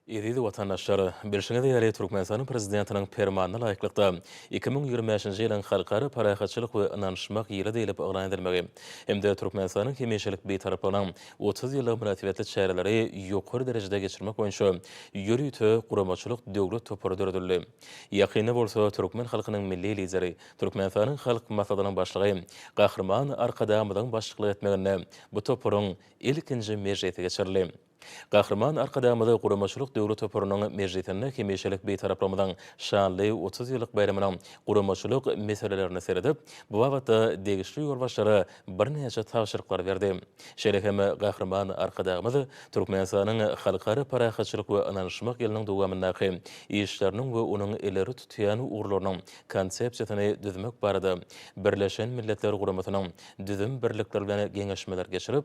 Eziz watandaşlar! Bilşiňiz ýaly, Türkmenistanyň Prezidentiniň Permanyna laýyklykda, iki müň ýigrimi bäşinji ýylyň Halkara parahatçylyk we ynanyşmak ýyly diýlip yglan edilmegi hem-de Türkmenistanyň hemişelik Bitaraplygynyň otuz ýyllygy mynasybetli çäreleri ýokary derejede geçirmek boýunça ýörite guramaçylyk-döwlet topary döredildi. Ýakynda bolsa türkmen halkynyň Milli Lideri, Türkmenistanyň Halk Maslahatynyň Başlygy Gahryman Arkadagymyzyň başçylyk etmeginde bu toparyň ilkinji mejlisi geçirildi. Gahryman Arkadagymyzy guramaçylyk döwri toparynyň mejlisinde hemişelik Bitaraplygymmyzyň şanly otuz ýyllyk baýramynyň guramaçylyk meselelerine seredip, bu babatda degişli ýolbaşçylara birnäçe tabşyryklary berdi. Şeýle hem Gahryman Arkadagymyz Türkmenistanyň Halkara parahatçylyk we ynanyşmak ýylynyň dowamyndaky işleriniň we onuň ileri tutýan ugurlarynyň Konsepsiýasyny düzmek barada Birleşen Milletler Guramasynyň düzüm birlikleri bilen geňeşmeler geçirip,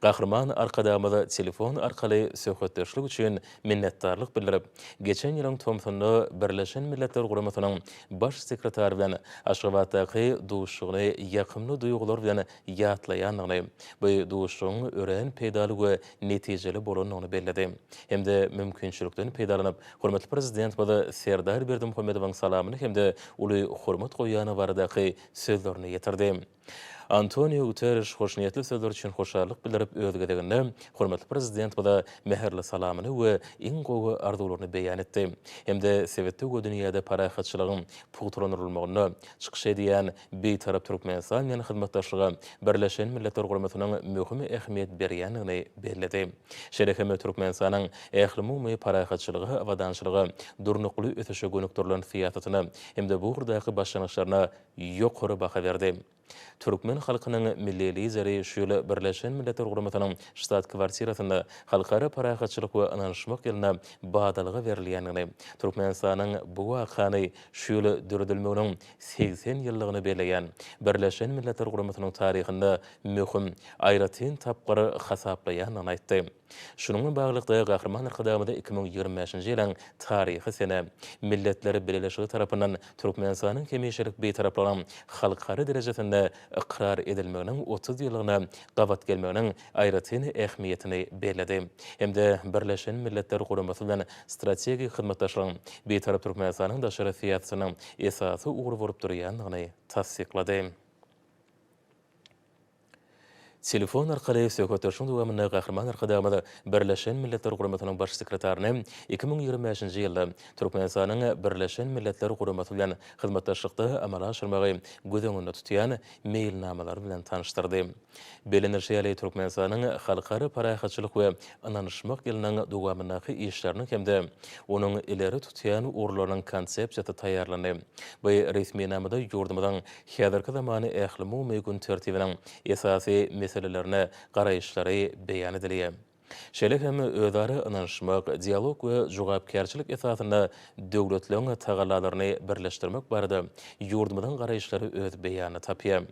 Gahryman Arkadagymyza telefon arkaly söhbetdeşlik üçin minnetdarlyk bildirip, geçen ýylyň tomsunda Birleşen Milletler Guramasynyň Baş sekretary bilen Aşgabatdaky duşuşygyny ýakymly duýgular bilen ýatlaýandygyny, bu duşuşygyň örän peýdaly we netijeli bolandygyny belledi hem-de mümkinçilikden peýdalanyp, hormatly Prezidentimiz Serdar Berdimuhamedowyň salamyny hem-de uly hormat goýýandygy baradaky sözlerini ýetirdi. Antoniu Guterriş hoşniýetli sözler üçin hoşallyk bildirip, öz gezeginde hormatly Prezidentimize mähirli salamyny we iň gowy arzuwlaryny beýan etdi hem-de sebitde we dünýäde parahatçylygyň pugtalandyrylmagynda çykyş edýän Bitarap Türkmenistan bilen hyzmatdaşlyga Birleşen Milletler Guramasynyň möhüm ähmiýet berýändigini belledi. Şeýle hem Türkmenistanyň ählumumy parahatçylyga, abadançylyga, durnukly ösüşe gönükdirilen syýasatyna hem-de bu ugurdaky başlangyçlaryna ýokary baha berdi. Türkmen halkynyň Milli Lideri şu ýyl Birleşen Milletler Guramasynyň Ştat-kwartirasynda Halkara parahatçylyk we ynanyşmak ýylyna badalga berilýändigini, Türkmenistanyň bu wakany şu ýyl döredilmeginiň segsen ýyllygyny belleýän Birleşen Milletler Guramasynyň taryhynda möhüm, aýratyn tapgyr hasaplaýandygyny aýtdy. Şunuň bilen baglylykda, Gahryman Arkadagymyza iki müň ýigrimi bäşinji ýylyň Taryhy sene, Milletler Bileleşigi tarapyndan Türkmenistanyň hemişelik Bitaraplygynyň halkara derejesinde ykrar edilmeginiň otuz ýyllygyna gabat gelmeginiň aýratyn ähmiýetini belledi hem-de Birleşen Milletler Guramasy bilen strategik hyzmatdaşlygyň Bitarap Türkmenistanyň daşary syýasatynyň esasy ugry bolup durýandygyny tassyklady. Telefon arkaly söhbetdeşligiň dowamynda Gahryman Arkadagymyz Birleşen Milletler Guramasynyň Baş sekretaryny iki müň ýigrimi bäşinji ýylda Türkmenistanyň Birleşen Milletler Guramasy bilen hyzmatdaşlykda amala aşyrmagy göz öňünde tutýan meýilnamalar bilen tanyşdyrdy. Bellenilişi ýaly, Türkmenistanyň Halkara parahatçylyk we ynanyşmak ýylynyň dowamyndaky işleriniň hem-de onuň ileri tutýan ugurlarynyň Konsepsiýasy taýýarlandy. Bu resminamada ýurdumyzyň häzirki zamany ählumumy gün tertibiniň esasy meselelerine garaýyşlary beýan edilýär. Şeýle hem özara ynanyşmak, dialog we jogapkärçilik esasynda döwletleriň tagallalaryny birleşdirmek barada ýurdumyzyň garaýyşlary öz beýanyny tapýar.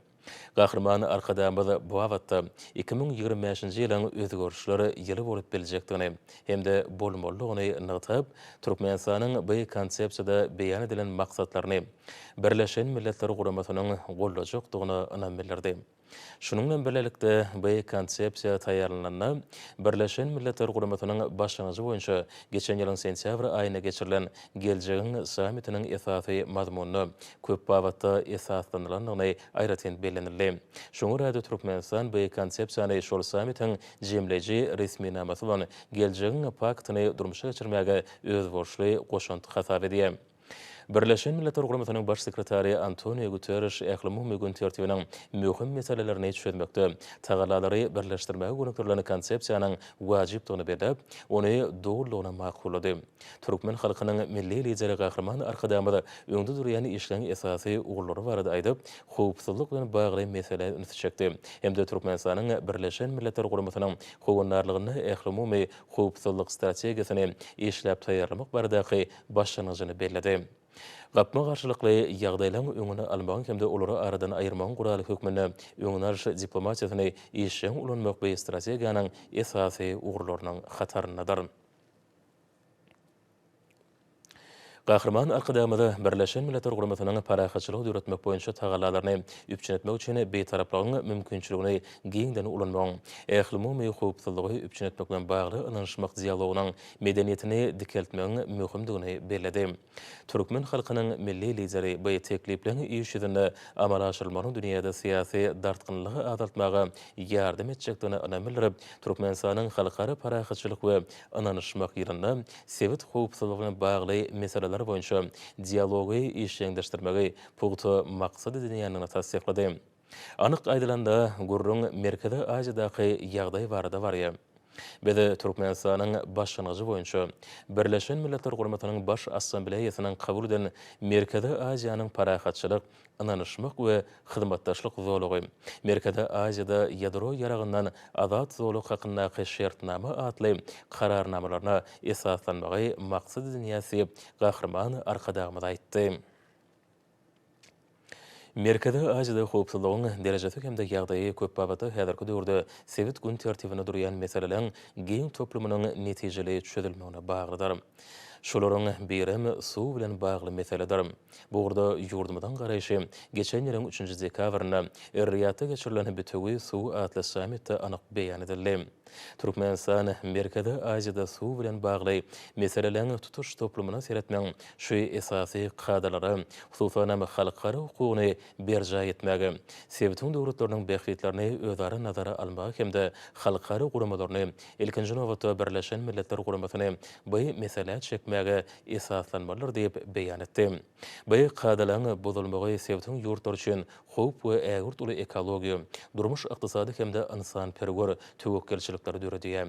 Gahryman Arkadagymyz bu babatda iki müň ýigrimi bäşinji ýylyň özgerişler ýyly bolup biljekdigini hem-de bolmalydygyny nygtap, Türkmenistanyň bu Konsepsiýada beýan edilen maksatlaryny, Birleşen Milletler Guramasynyň goldajakdygyna ynam bildirdi. Şunuň bilen birlikde, bu Konsepsiýa taýýarlanylanda, Birleşen Milletler Guramasynyň başlangyjy boýunça geçen ýylyň sentýabr aýynda geçirilen Geljegiň sammitiniň esasy mazmunyna köp babatda esaslanylandygyny aýratyn bellenildi. Şoňa görä-de, Türkmenistan bu Konsepsiýany şol sammitiň jemleýji resminamasy bolan Geljegiň paktyny durmuşa geçirmäge özboluşly goşant hasap edýär. Birleşen Milletler Guramasynyň Baş sekretary Antoniu Guterriş ählumumy gün tertibiniň möhüm meselelerini çözmekde tagallalary birleşdirmäge gönükdirilen konsepsiýanyň wajypdygyny belläp, ony dolulygyna makullady. Türkmen halkynyň Milli Lideri Gahryman Arkadagymyz öňde durýan işleň esasy ugurlary barada aýdyp, howpsuzlyk bilen bagly meselä ünsi çekdi hem-de Türkmenistanyň Birleşen Milletler Guramasynyň howandarlygynda ählumumy howpsuzlyk strategiýasyny işläp taýýarlamak baradaky başlangyjyny belledi. Gapma-garşylykly ýagdaýlaryň öňüni almagyň hem-de olary aradan aýyrmagyň guraly hökmünde öňüni alyş diplomatiýasyny işjeň ulanmak bu strategiýanyň esasy ugurlarynyň hataryndadyr. Gahryman Arkadagymyza Birleşen Milletler Guramasynyň parahatçylygy döretmek boýunça tagallalaryny üpjün etmek üçin Bitaraplygyň mümkinçiligini giňden ulanmagyň, ählumumy howpsuzlygy üpjün etmek bilen bagly ynanyşmak dialogynyň medeniýetini dikeltmegiň möhümdigini belledi. Türkmen halkynyň Milli Lideri bu teklipleriň iş ýüzünde amala aşyrylmagynyň dünýäde syýasy dartgynlygy azaltmaga ýardam etjekdigine ynam bildirip, Türkmenistanyň Halkara parahatçylyk we ynanyşmak ýylynda sebit howpsuzlygy bilen bagly meseleler boýunça dialogy işjeňleşdirmegi pugta maksat edinýändigini tassyklady. Anyk aýdylanda, gürrüň Merkezi Aziýadaky ýagdaý barada barýar. Biz Türkmenistanyň başlangyjy boýunça, Birleşen Milletler Guramasynyň Baş Assambleýasynyň kabul eden Merkezi Aziýanyň parahatçylyk, ynanyşmak we hyzmatdaşlyk zolagy, Merkezi Aziýada ýadro ýaragyndan azat zolag hakyndaky şertnama atly Kararnamalaryna esaslanmagy maksat edinýäs diýip, Gahryman Arkadagymyz aýtdy. Merkezi Aziýada howpsuzlygyň derejesi hem-de ýagdaýy köp babatda häzirki döwürde sebit gün tertibinde durýan meseleleriň giň toplumynyň netijeli çözülmegine baglydyr. Şolaryň birem suw bilen bagly meseledir. Bu ugurda ýurdumyzyň garaýşy geçen ýylyň üçünji dekabrynda Er-Riýadda geçirilen Bütewi suw atly sammitde anyk beýan edildi. Türkmenistan Merkezi Aziýada suw bilen bagly meseleleriň tutuş toplumyna seretmegiň şu esasy kadalary, hususan hem, halkara hukugyny berjaý etmäge, sebitiň döwletleriniň bähbitlerini özara nazara almaga hem-de halkara guramalaryny, ilkinji nobatda, Birleşen Milletler Guramasyny bu meselä çekmäge esaslanmalydyr diýip beýan etdi. Bu kadalaryň bozulmagy sebitiň ýurtlary üçin howp we ägirt uly ekologiýa, durmuş-ykdysady hem-de ynsanperwer töwekgelçilikleri döredýär.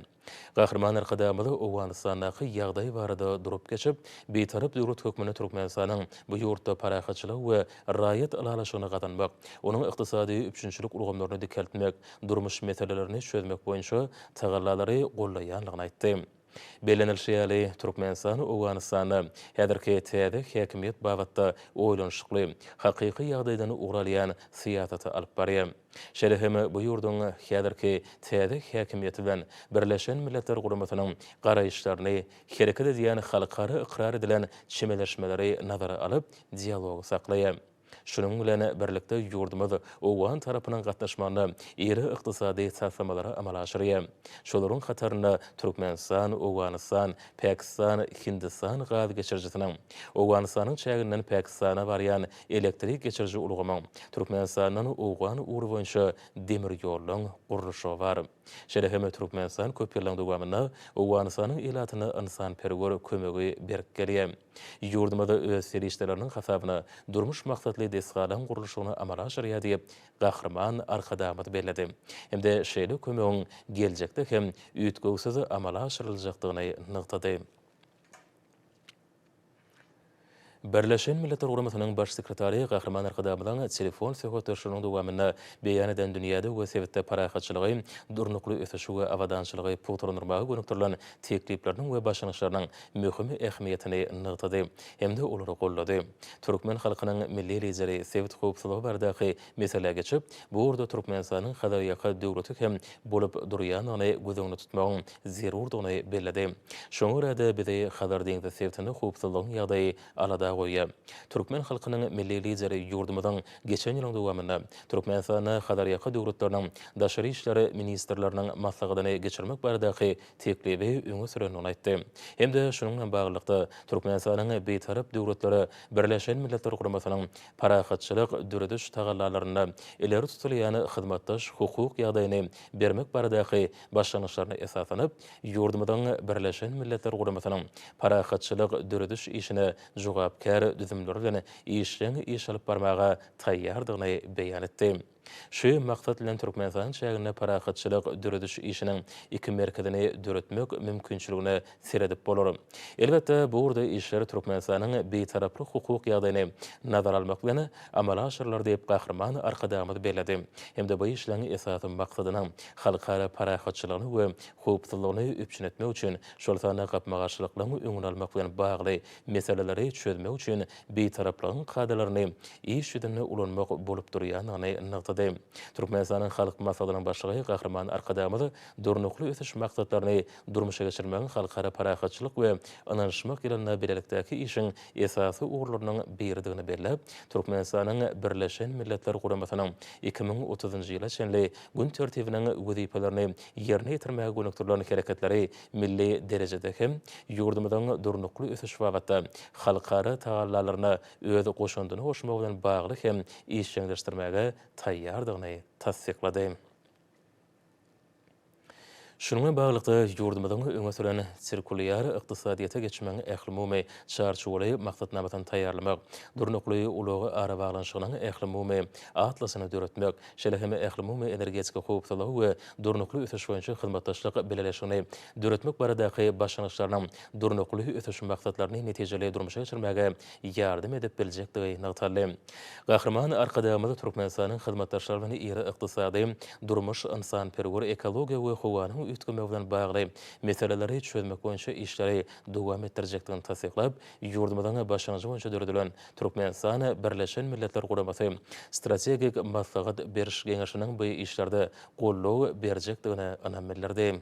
Gahryman Arkadagymyz Owganystandaky ýagdaý barada durup geçip, Bitarap döwlet hökmünde Türkmenistanyň bu ýurtda parahatçylygy we raýat ylalaşygyny gazanmak, onuň ykdysady üpjünçilik ulgamlaryny dikeltmek, durmuş meselelerini çözmek boýunça tagallalary gollaýandygyny aýtdy. Bellenilişi ýaly, Türkmenistan Owganystanda häzirki täze häkimiýet babatda oýlanyşykly, hakyky ýagdaýdan ugur alýan syýasaty alyp barýar. Şeýle hem bu ýurduň häzirki täze häkimiýeti bilen Birleşen Milletler Guramasynyň garaýyşlaryny, hereket edýän halkara ykrar edilen çemeleşmeleri nazara alyp, dialogy saklaýar. Şunuň bilen birlikde, ýurdumyz owgan tarapynyň gatnaşmagynda iri ykdysady taslamalary amala aşyrýar. Şolaryň hatarynda Türkmenistan, Owganystan, Pakistan, Hindistan gaz geçirijisiniň, Owganystanyň çäginden Pakistana barýan elektrik geçiriji ulgamyň, Türkmenistandan owgan ugry boýunça demir ýoluň gurluşygy bar. Şeýle hem Türkmenistan köp ýyllaryň dowamynda Owganystanyň ilatyna ynsanperwer kömegi berip gelýär. Ýurdumyzda öz serişdeleriniň hasabyna durmuş maksatly desgalaryň gurluşygyny amala aşyrýar diýip, Gahryman Arkadagymyz belledi hem-de şeýle kömegiň geljekde hem üýtgewsiz amala aşyryljakdygyny nygtady. Birleşen Milletler Guramasynyň Baş sekretary Gahryman Arkadagymyzyň telefon söhbetdeşliginiň dowamynda beýan eden dünýäde we sebitde parahatçylygy, durnukly ösüşi we abadançylygy pugtalandyrmaga gönükdirilen teklipleriniň we başlangyçlarynyň möhüm ähmiýetini nygtady hem-de olary goldady. Türkmen halkynyň Milli Lideri sebit howpsuzlygy baradaky meselä geçip, bu ugurda Türkmenistanyň Hazarýaka döwleti hem bolup durýandygyny göz öňünde tutmagyň zerurdygyny belledi. Şoňa görä-de, bizi Hazar deňzi sebitinde howpsuzlygyň ýagdaýy alada goýýar. Türkmen halkynyň Milli Lideri ýurdumyzyň geçen ýylyň dowamynda Türkmenistanda Hazarýaka döwletleriniň Daşary işler ministrleriniň maslahatyny geçirmek baradaky teklibi öňe sürendigini aýtdy hem-de şunuň bilen baglylykda, Türkmenistanyň Bitarap döwletleri Birleşen Milletler Guramasynyň parahatçylyk dörediş tagallalarynda ileri tutulýan hyzmatdaş hukuk ýagdaýyny bermek baradaky başlangyçlaryna esaslanyp, Ýurdumyzyň Birleşen Milletler Guramasynyň parahatçylyk dörediş işine jogapkär düzümleri bilen işjeň iş alyp barmaga taýýardygyny beýan etdi. Şu maksat bilen Türkmenistan çäginde parahatçylyk dörediş işiniň iki merkezini döretmek mümkinçiligine seredip bolar. Elbetde, bu ugurda işler Türkmenistanyň Bitaraplyk hukuk ýagdaýyny nazara almak bilen amala aşyrylar diýip, Gahryman Arkadagymyz belledi hem-de bu işleň esasy maksadynyň halkara parahatçylygyny we howpsuzlygyny üpjün etmek üçin, şol sanda gapma-garşylyklygyň öňüni almak bilen bagly meseleleri çözmek üçin Bitaraplygyň kadalaryny iş ýüzünde ulanmak bolup durýandygyny nygtady. Türkmenistanyň Halk Maslahatynyň Başlygy Gahryman Arkadagymyz Durnukly ösüş maksatlaryny durmuşa geçirmegiň Halkara parahatçylyk we ynanyşmak ýylynda bilelikdäki işiň esasy ugurlarynyň biridigini belläp, Türkmenistanyň Birleşen Milletler Guramasynyň iki müň otuzynjy ýyla çenli gün tertibiniň wezipelerini ýerine ýetirmäge gönükdirilen hereketleri milli derejede hem ýurdumyzyň durnukly ösüş babatda halkara tagallalaryna öz goşandyny goşmagy bilen bagly hem işjeňleşdirmäge taýýardygyny tassyklady. Şunuň bilen baglylykda, ýurdumyzyň öňe süren sirkulýar ykdysadyýete geçmegiň ählumumy çarçuwaly maksatnamasyny taýýarlamak, durnukly ulag arabaglanyşygynyň ählumumy atlasyny döretmek, şeýle hem Ählumumy energetika howpsuzlygy we durnukly ösüş boýunça hyzmatdaşlyk bileleşigini döretmek baradaky başlangyçlarynyň durnukly ösüş maksatlaryny netijeli durmuşa geçirmäge ýardam edip biljekdigi nygtaldy. Gahryman Arkadagymyz Türkmenistanyň hyzmatdaşlary bilen iri ykdysady, durmuş, ynsanperwer, ekologiýa we howanyň üýtgemegi bilen bagly meseleleri çözmek boýunça işleri dowam etdirjekdigini tassyklap, ýurdumyzyň başlangyjy boýunça döredilen Türkmenistan, Birleşen Milletler Guramasy Strategik maslahat beriş geňeşiniň bu işlerde goldaw berjekdigine ynam bildirdi.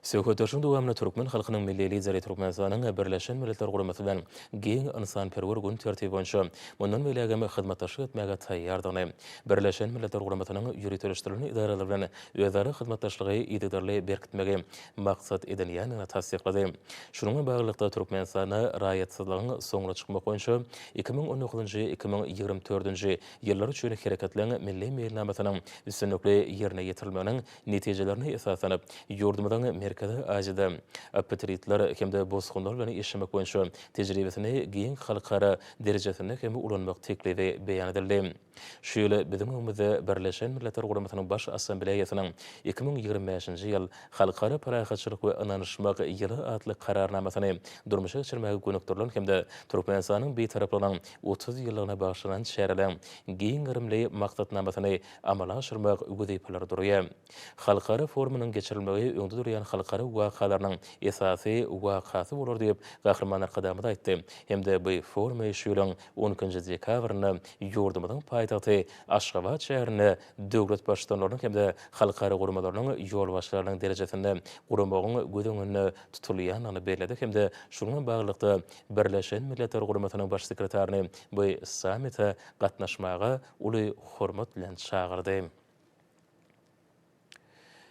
Söhbetdeşligiň dowamynda türkmen halkynyň Milli Lideri Türkmenistanyň Birleşen Milletler Guramasy bilen giň ynsanperwer gün tertibi boýunça mundan beýlägem hyzmatdaşlyk etmäge taýýardygyny, Birleşen Milletler Guramasynyň ýöriteleşdirilen edaralary bilen özara hyzmatdaşlygy yzygiderli berkitmegi maksat edinýändigini tassyklady. Şunuň bilen baglylykda, Türkmenistanda raýatsyzlygyň soňuna çykmak boýunça iki müň on dokuzynjy, iki müň ýigrimi dördünji Ýyllar üçin Hereketleň Milli Meýilnamasynyň üstünlikli ýerine ýetirilmeginiň netijelerine esaslanyp, ýurdumyzyň Merkezi Aziýada apatridler hem-de bosgunlar bilen işlemek boýunça tejribesini giň halkara derejesinde hem ulanmak teklibi beýan edildi. Şu ýyl biziň öňümizde Birleşen Milletler Guramasynyň Baş Assambleýasynyň iki müň ýigrimi bäşinji ýyl Halkara parahatçylyk we ynanyşmak ýyly atly Kararnamasyny durmuşa geçirmäge gönükdirilen hem-de Türkmenistanyň Bitaraplygynyň otuz ýyllygyna bagyşlanan çäreleriň giň gerimli maksatnamasyny amala aşyrmak wezipelere durýar. Halkara forumynyň geçirilmegi öňde durýan halkara wakalarynyň esasy wakasy bolar diýip, Gahryman Arkadagymyz aýtdy hem-de bu forumy şu ýylyň on ikinji dekabrynda ýurdumyzyň paýtagty Aşgabat şäherinde döwlet Baştutanlarynyň hem-de halkara guramalarynyň ýolbaşçylarynyň derejesinde guramagyň göz öňünde tutulýandygyny belledi hem-de şunuň bilen baglylykda Birleşen Milletler Guramasynyň Baş sekretaryny bu sammite gatnaşmaga uly hormat bilen çagyrdy.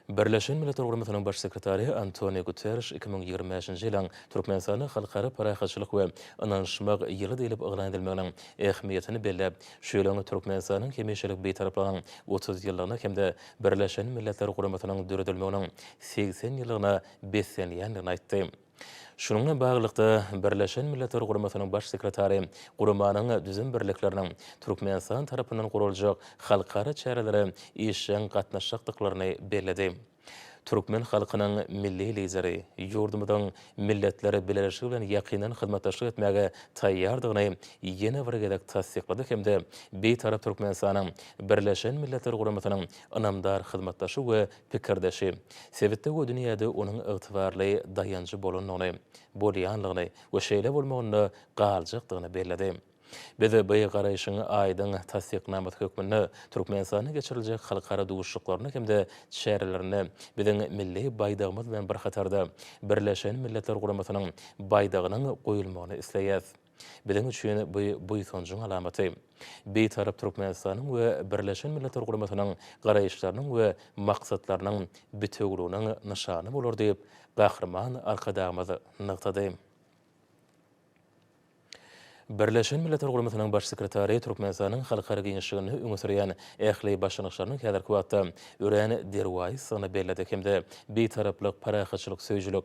Birleşen Milletler Guramasynyň Baş sekretary Antoniu Guterriş iki müň ýigrimi bäşinji ýylyň Türkmenistanda Halkara parahatçylyk we ynanyşmak ýyly diýlip yglan edilmeginiň ähmiýetini belläp, şu ýylyň Türkmenistanyň hemişelik Bitaraplygynyň otuz ýyllygyna hem-de Birleşen Milletler Guramasynyň döredilmeginiň segsen ýyllygyna beslenýändigini aýtdy. Şunuň bilen baglylykda, Birleşen Milletler Guramasynyň Baş sekretary guramanyň düzüm birlikleriniň Türkmenistan tarapyndan guraljak halkara çärelere işjeň gatnaşjakdyklaryny belledi. Türkmen halkynyň Milli Lideri ýurdumyzyň Milletler Bileleşigi bilen ýakyndan hyzmatdaşlyk etmäge taýýardygyny ýene bir gezek tassyklady hem-de Bitarap Türkmenistanyň Birleşen Milletler Guramasynyň ynamdar hyzmatdaşy we pikirdeşi, sebitde we dünýäde onuň ygtybarly daýanjy bolandygyny, bolýanlygyny we şeýle bolmagynda galjakdygyny belledi. Biz bu garaýşyň aýdyň tassyknamasy hökmünde Türkmenistanda geçiriljek halkara duşuşyklarynda hem-de çärelerinde biziň milli Baýdagymyz bilen bir hatarda Birleşen Milletler Guramasynyň Baýdagynyň goýulmagyny isleýäs. Biziň üçin bu buýsanjyň alamaty. Bitarap Türkmenistanyň we Birleşen Milletler Guramasynyň garaýyşlarynyň we maksatlarynyň bitewüliginiň nyşany bolar diýip, Gahryman Arkadagymyz nygtady. Birleşen Milletler Guramasynyň Baş sekretary Türkmenistanyň halkara giňişliginde öňe sürýän ähli başlangyçlarynyň häzirki wagtda örän derwaýysdygyny belledi hem-de Bitaraplyk, parahatçylyk söýüjilik,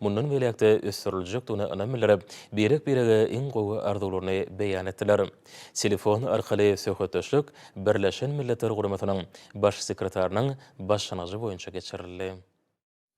mundan beýläk-de ösdüriljekdigine ynam bildirip, birek-birege iň gowy arzuwlaryny beýan etdiler. Telefon arkaly söhbetdeşlik Birleşen Milletler Guramasynyň Baş sekretarynyň başlangyjy boýunça geçirildi.